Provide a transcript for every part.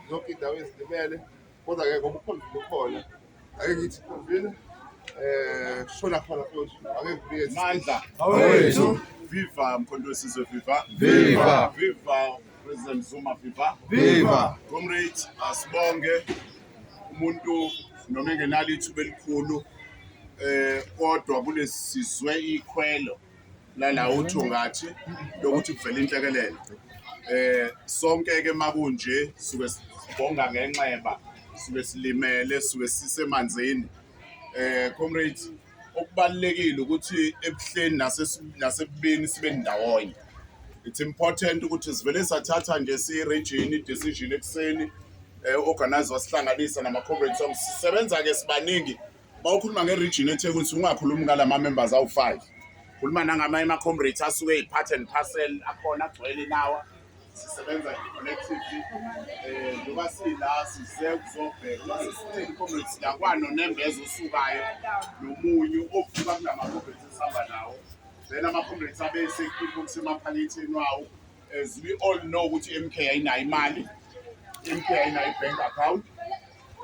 zonke iy'ndawo ezilimele kodwa ke ngoba ukhonvile ukhona ake ngithi khonvile um eh, shona khona futhi ake ngibike mandla awethu viva mkhonto wesizwe viva viva viva president zuma viva viva comrade asibonge umuntu noma engenalo ithuba elikhulu um kodwa kulesizwe ikhwelo lala uthungathi lokuthi kuvela inhlekelele eh sonke ke makunje suke sibonga ngenxeba suke silimele suke sisemanzini eh comrade okubalekile ukuthi ebuhleni nasebubini sibe ndawonye it's important ukuthi sivele sathatha nje si region i decision ekuseni eh organize wasihlanganisa nama comrades sisebenza ke sibaningi bawukhuluma nge-region ethekwini sungakhulumi ngala ma-members awu-five khuluma nangamanye ama-comrades asuke yi-part and parcel akhona agcwele inawa sisebenza collectively eh ngoba sila size kuzobheka uma sesithini comrade siyakwano nembeza osukayo nomunyu ovuka kulama comrades esihamba nawo then ama comrades abese kusemaphalithini wawo As we all know ukuthi MK ayinayo imali, MK ayinayo i-bank account.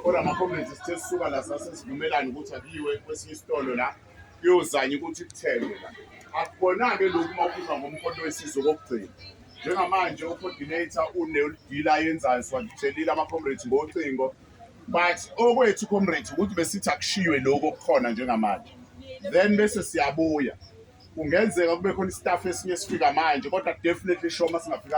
Kodwa ama-comrades sithe sisuka la sase sivumelane ukuthi akuyiwe kwesinye isitolo la kuyozanya ukuthi kuthengwe la. Akubona-ke lokhu uma ukhuluma ngomkhonto wesizwe kokugcina. Njengamanje u-coordinator uneludila ayenzayo siwathelile ama-comrades ngocingo but okwethu comrades ukuthi besithi akushiywe lokho kukhona njengamanje then bese siyabuya kungenzeka kube khona istaff esinye esifika manje kodwa definitely sure uma singafikanga